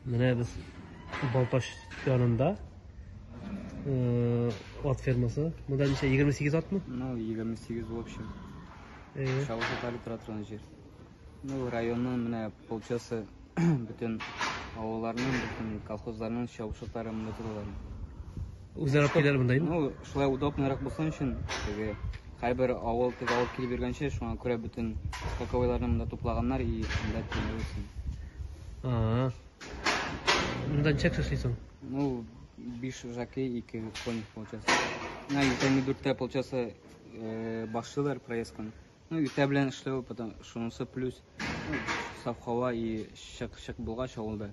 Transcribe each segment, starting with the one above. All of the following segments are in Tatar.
Менә без Балтач янында ат фермасы. Монда ничә 28 атмы? Ну, 28 в общем. Э. Шавышы талип тора торган җир. Ну, районның менә полчасы бөтен авылларның, бөтен колхозларның чабышыклары монда торалар. Үзләр алып киләләр монда инде. Ну, шулай удобныйрак булсын өчен, теге һәрбер авыл теге алып килеп йөргәнче, шуңа күрә бөтен скаковойларны монда туплаганнар и монда тимер өчен. А. Монда ничә кеше эшлисең? Ну, биш жаки, ике конь получается. На иртәнге дүрттә получается э, башлыйлар проездканы. Ну, иртә белән эшләү, потом шунысы плюс ну, саф һава и чык-чык булгач авылда.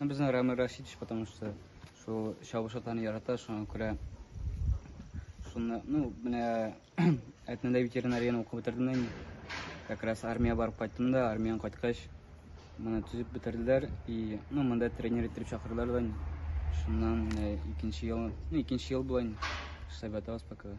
Безнең Рамил Рашидович, потому что шул чабыш атаны ярата, шуңа күрә шуны, ну, менә әтнәдә ветеринарияны укып бетердем инде. Как раз армия барып кайттым да, армиян кайткач, моны төзеп бетерделәр и, ну, монда тренер итеп чакырдылар да. Шуннан икенче ел, ну, икенче ел була инде. Штаб ятабыз пока.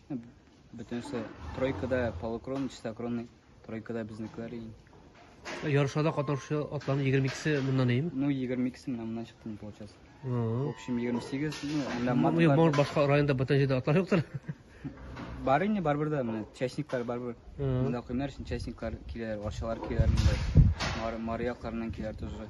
Бөтенесе тройкада полукрон, чистокронный, тройкада безнекеләр иң. Ярышларда катнашучы атларның 22-се моннан ием. Ну, 22-се менә моннан чыкты, получается. В общем, 28, ну, әллә матка. Ну, башка районда бүтән җирдә атлар юктыр. Бар инде, барбер да, менә частниклар барбер. Монда куймар өчен частниклар киләләр, арчалар киләләр монда. Мария якларыннан киләләр тоже.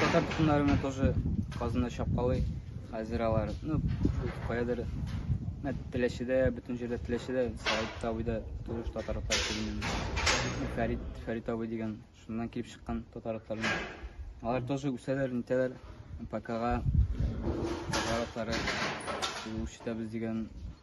Татар тукымнары менә тоже Казанда чапкалый. Хәзер алар, ну, каядыр Мә Теләчедә, бөтен җирдә Теләчедә, Сәгыйть абыйда тоже татар атлары килгән. Фәрит, Фәрит абый дигән, шуннан килеп чыккан татар атлары. Алар тоже үсәләр, нитәләр. ПКга татар атлары куып җитәбез дигән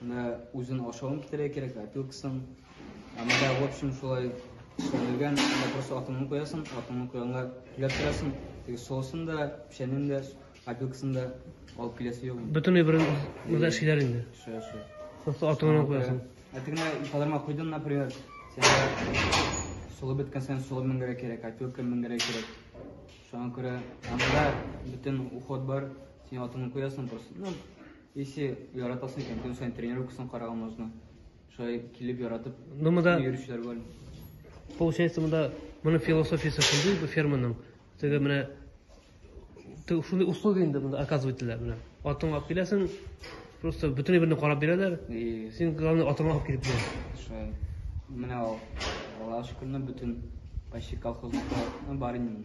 Менә үзен ашавын китерә кирәк, опилкасын. Ә менә в общем шулай эшләнелгән, менә просто атыңны куясың, атыңны куянга түләп торасың. Теге соусын да, печәнен дә, опилкасын да алып киләсе юк. Бөтенләй бер мында эшлиләр инде. Шо, шо. Просто атыңны куясың. Ә тегенә ипадарма куйдың, например, сәнгә солы беткән сән солы меңгәрә кирәк, опилка меңгәрә кирәк. Шуңа күрә анда бөтен уход бар, син атыңны куясың просто. Ну, Если яратасың икән, көн саен тренировкасын караган можно. Шулай килеп яратып, ну, монда... йөрүчеләр бар. Получается, монда моның философиясе шундый бу ферманың. Теге менә шундый услуга инде монда оказывать ителә менә. Атыңа алып киләсең, просто бөтенләй берне карап бирәләр. И син главное атыңа алып килеп бир. Шулай. Менә ул. Аллаһ шөкер, бөтен почти колхозныкта бар инде.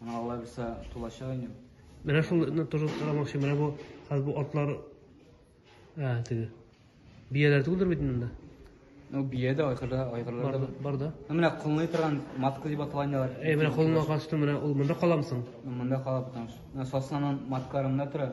Аңа Алла бирсә тулачак инде. Менә шуны тоже карамакчы. Менә бу хәзер бу атлар ә теге. Бияләр түгелдер бит монда. Ну бия да айгырда айгырлар да. Бар да. Менә кулны торган матка дип аталган ялар. Әй менә кулны кашты менә ул монда каламсың. Монда кала потому что. Менә соснанын маткарында тора.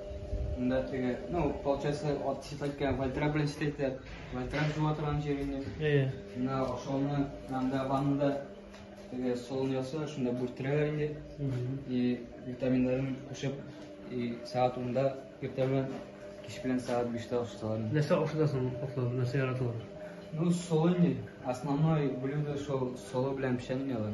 Монда теге, ну, получается, ат читәткән, вальтрак белән читәйтә. Вальтрак жуа торган җир инде. Әйе. Менә ашауны, анда ваннада теге солон яса, шунда бүрттерәләр инде. И витаминнарын кушып, и сәгать 10-да иртә белән, кич белән сәгать 5-тә ашаталар. Нәрсә ашатасың атлар, нәрсә яраталар? Ну, солон инде. Основной блюдо шул соло белән печенье алар.